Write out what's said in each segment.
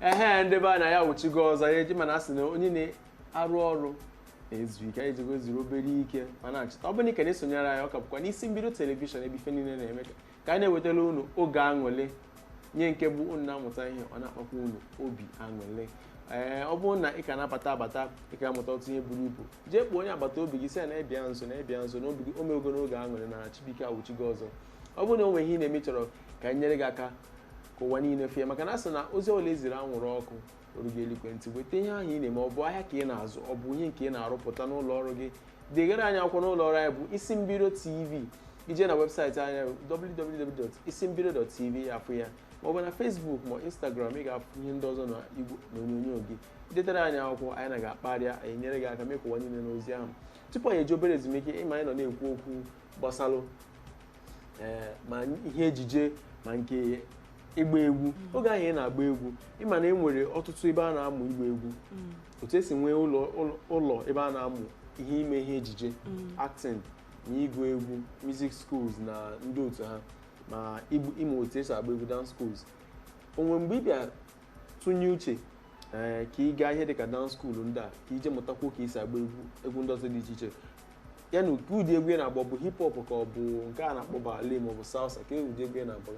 ehe ndị be anyị anyị awụchigo ọzọ ya eji ị ma na a sị na onye na-arụ ọrụ na-ezu ike anyị jego zuru obere ike ma nachita ọ bụrụ na ị ka na-esonyere anyị ọ ka bụkwa n'Isimbido telivishọn ebe ife niile na-eme ka ka anyị na-ewetara unu oge aṅụlị ihe nke bụ unu na-amụta ihe ọ na-akpakwa unu obi aṅụlị ee ọ bụrụ na ị ka na-abata abata ị ga-amụta otu ihe buru ibu jee kpọọ onye agbata obi gị sị ya na-abịa nso na-abịa nso na obi gị o mewego n'oge aṅụlị na Chibuike awụchigo ọzọ ọ bụrụ na o nwere ihe ị na-eme ị chọrọ ka anyị nyere gị aka ka ụwa niile fụ ya maka na a sị na ozi ọbụla eziri anwụrụ ọkụ erugo eluigwe ntị weta ihe ahụ ị na-eme ọ bụ ahịa ka ị na-azụ ọ bụ ihe nke ị na-arụpụta n'ụlọ ọrụ gị degara anyị akwụkwọ n'ụlọ ọrụ anyị bụ Isimbido tv i je na webụsaịtị anyị bụ www.isimbido.tv ị fụ ya ma ọ bụ na Facebook ma Instagram ị ga-afụ ihe ndị ọzọ na igwe onyonyo gị i detara anyị akwụkwọ anyị na gị akparịa anyị nyere gị aka mee ka ụwa niile nụ ozi ahụ tupu anyị eje obere ezumike ị ma anyị nọ na-ekwu okwu gbasalụ eh, ma ihe ejije ma nke ịgba egwu mm. oge ahụ ị na-agba egwu ị ma na e nwere ọtụtụ ebe a na-amụ ịgba egwu mm. otu esi nwee ụlọ ebe a na-amụ ihe ime ihe ejije mm. acting na ịgụ egwu music schools na ndị otu ha ma ịmụ otu esi agba egwu dance schools o nwe mgbe ị bịa tụnye uche ee eh, ka ị gaa ihe dịka dance school ndị a ka i je mụtakwuo ka esi agba egwu egwu ndị ọzọ dị iche iche ya na kee ụdị egwu ị na-agba ọ bụ hip hop ka ọ bụ nke a na-akpọ ballet ma ọ bụ salsa kee ụdị egwu ị na-agba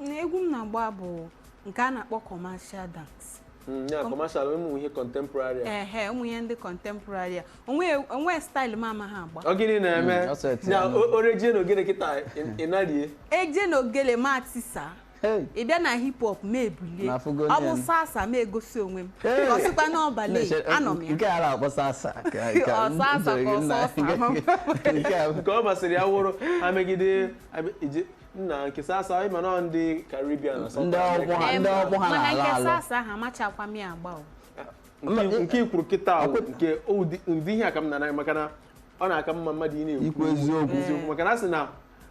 na egwu m na-agba bụ nke a na-akpọ commercial dance Mm, ya commercial ụmụ ihe contemporary a. ehe ụmụ ihe ndị contemporary a o nwe o nwe staịlụ m amaghị agba ọ gịnị na-eme Mm, ọ sọ eti ya na nụ. o- o rejie na ogene kịta ị- ị narie e je na ogele m atisa Hey. ị bịa na hip hop m ebulie Na afụgo ọ bụ nne m. salsa m egosi onwe m Hey. ọ sịkwa na ọ ballet Na-eche- anọ m ya nke a na-akpọ salsa ka- ka- Ọ salsa ka ọ nna- sọsa. nke a nke ọ masịrị ya wụrụ ha megide abịa- ije- nna nke salsa ị ma na ọ ndị Caribbean na South Ndị America. ogbo ha- ndị ogbo ha mana na-ala nke ala. salsa ahụ amachakwa m ya agba o Nke- nke i kwuru kịta ahụ nke ụdị ụdị ihe a ka m na-anaghị maka na ọ na-aka mma mmadụ ị na-ekwu I kwu eziokwu. eziokwu maka na a sị na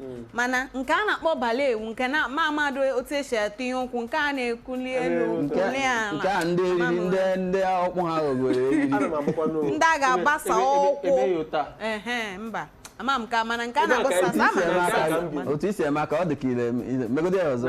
mm. mana nke a na-akpọ ballet wụ nke na mụ amaghị otu esi etinye ụkwụ nke a na-ekuli elu nke a ndị eriri ndị ndị ọkpụ ha ghọgoro ndị a ga-agbasa ụkwụ mba ama m ka mana nke a na-akpọ salsa ama m otu esi eme ka ọ dị ka ire megodi ya ọzọ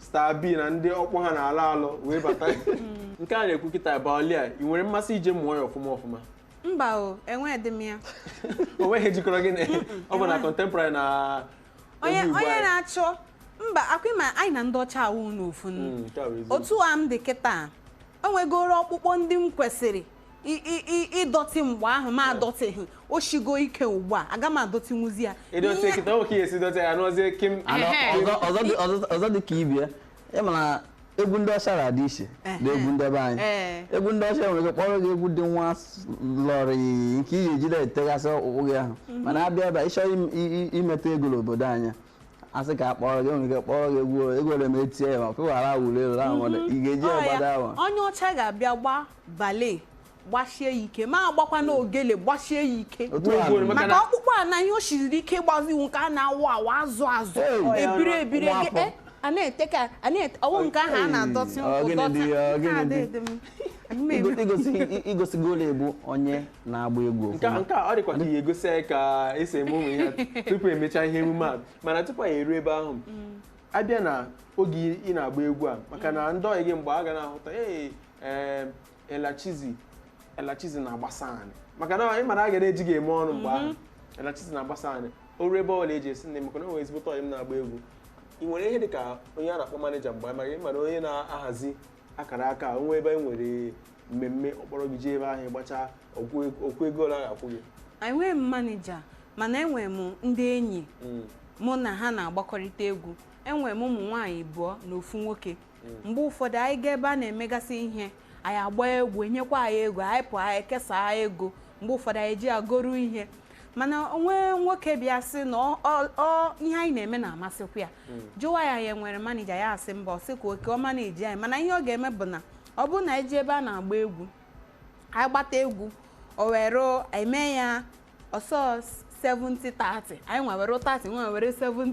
star b na ndị ogbo ha na-alọ alọ wee bata nke a na-ekwu kịta ballet a ị nwere mmasị ije mụọ ya ọfụma ọfụma mba o enweghị m ya o nweghị ihe jikọrọ gị na ọ bụ na contemporary na onye egwu Igbo onye anyị. na-achọ mba ọ kwa ị ma anyị na ndị ọcha awụghị ofu nnu Mm, nke a bụ eziokwu. otu a m dị kịta o nwegoro ọkpụkpọ ndị m kwesịrị I- i- i- ịdọtị mgbe ahụ m adọtịghị o shigo ike ugbu a aga m adọtịnwuzi ya ịdọtị Ihe- kịta nwoke ya esi dọtị ya nọzie kịm Anọ, Ehe. ọzọ- ọzọ dị- ọzọ- ọzọ dị ka ibe ya ị ma na egwu ndị ọcha na-adị iche na egwu ndị be anyị Ee. egwu ndị ọcha nwere ike kpọrọ gị egwu dị nwa slowly nke ị ga-eji na-etegasị ọkpụkpụ gị ahụ mana a bịa ebe a, ị chọrọ im- i- i- imeta ego n'obodo anyị a sị ka a kpọrọ gị e nwere ike kpọrọ gị egwu egwu ole ma etie ya ma pụghara wuru elu ahụ ị ga-eji Ọ ya, agbada ahụ onye ọcha ga-abịa gbaa bale gbasie ya ike ma agbakwa na ogele gbasie ya ike Otu a Ugboro, nụ. maka maka na- ọkpụkpụ a na ihe o siriri ike gbazi iwu nke a na-awụ awụ azụ azụ Hey! ebiri ebiri Nwa gị- afọ. eh, a na-ete ka a na-ete ọ wụ nke ahụ a na-adọtị Ọ gịnị ịdọtị dị ya, ọ nke a gịnị dị? dị m. Ana m eme- igosi igosigolu ị bụ onye na-agba egwu nke a ọfụma. nke a ọ dịkwa ka ị ga-egosi anyị ka e si eme ụmụ ihe a tupu e mechaa ihe emume a mana tupu anyị eruo ebe ahụ a bịa n'oge ị na-agba egwu a maka na ndị ọyị gị mgbe ha ga na-ahụta ee ee elachizi elachizi na-agbasa anyị maka na ị mara a ga na-eji gị eme ọnụ mgbe ahụ elachizi na-agbasa anyị o ruo ebe ọbụla eji esi nne m maka na o nwere ezigbo ọyị m na-agba egwu ị nwere ihe dị ka onye a na-akpọ maneja mgbe anyị mara ị mara onye na-ahazi akara aka a, o nwee ebe e nwere mmemme ọ kpọrọ gị jee ebe ahụ gbachaa o kwuo ego ole a ga-akwụ gị enweghị m manija mana enwere m ndị enyi Mm. mụ na ha na-agbakọrịta egwu enwere m ụmụ nwaanyị abụọ na ofu nwoke mgbe ụfọdụ anyị gaa ebe a na-emegasị ihe anyị agba egwu enyekwa anyị ego anyị pụọ anyị kesaa ego mgbe ụfọdụ anyị ji agoru ihe mana o nwe nwoke bịa sị na ọ- ọ- ọ- ihe anyị na-eme na-amasịkwa ya jụwa anyị anyị nwere manija anyị asị mba ọ sị ka oke ọ maniji anyị mana ihe ọ ga-eme bụ na ọ bụrụ na anyị jee ebe a na-agba egwu anyị gbata egwu o were eme ya ọsọ 70 30 anyị nwa ewere 30 ya nwa ewere 70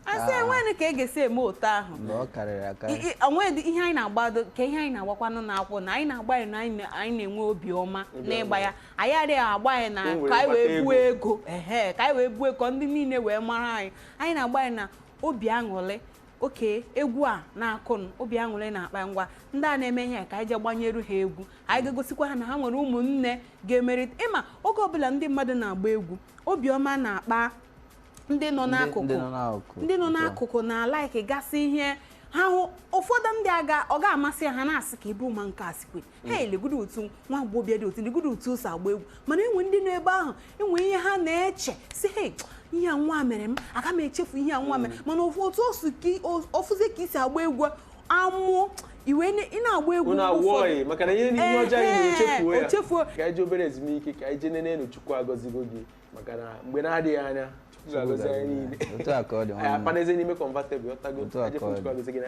a sị Ah. enweghị ka e ga-esi eme otu ahụ na ọ karịrị akarị I- i- o nwedị ihe anyị na-agbado ka ihe anyị na-agbakwanụ n'akwụ na anyị na-agba ya na anyị na- anyị na-enwe obi ọma n'ịgba ya anyị adịghị agba ya na Ka o wee ka anyị wee kpata buo ego ehe ka anyị wee buo ego ka ndị niile wee mara anyị anyị na-agba ya na obi aṅụrị oke egwu a na-akụnụ obi aṅụrị na-akpa ngwa ndị a na-eme ihe a ka anyị je gbanyeru ha egwu anyị ga-egosikwa ha na ha nwere ụmụnne ga-emerịta ị ma oge ọbụla ndị mmadụ na-agba egwu obiọma na-akpa ndị nọ Ndị- n'akụkụ ndị nọ n'akụkụ. ndị nọ n'akụkụ na-alaiki gasị ihe ha hụ ụfọdụ ndị aga ọ ga-amasị ha na-asị ka ibu ma nke a sikwe hei legodo otu nwa agbọghọbịa dị otu legodo otu o si agba egwu mana e nwe ndị nọ ebe ahụ e nwe ihe ha na-eche sị hei ihe a nwa mere m aga m echefu ihe a nwa mere mana ofu otu o si ka i- o- ọ fụzie ka i si agba egwu amụọ iwe ne- ị na-agba egwu unu mgbe ụfọdụ. awụọghị maka na ihe ihe ọjọọ anyị Ehe, na-echefuo ya o chefuo. ka anyị ji obere ezumike ka anyị jee nene enu chukwu agọzigo gị maka na mgbe na-adịghị anya chukwu ga-agọzi anyị niile otu a ka ọ dị anyị nwanne m. akpanaeze n'ime kọnvatebụl ọtago Otu a anyị ka ọ chukwu dị. agọzi gị na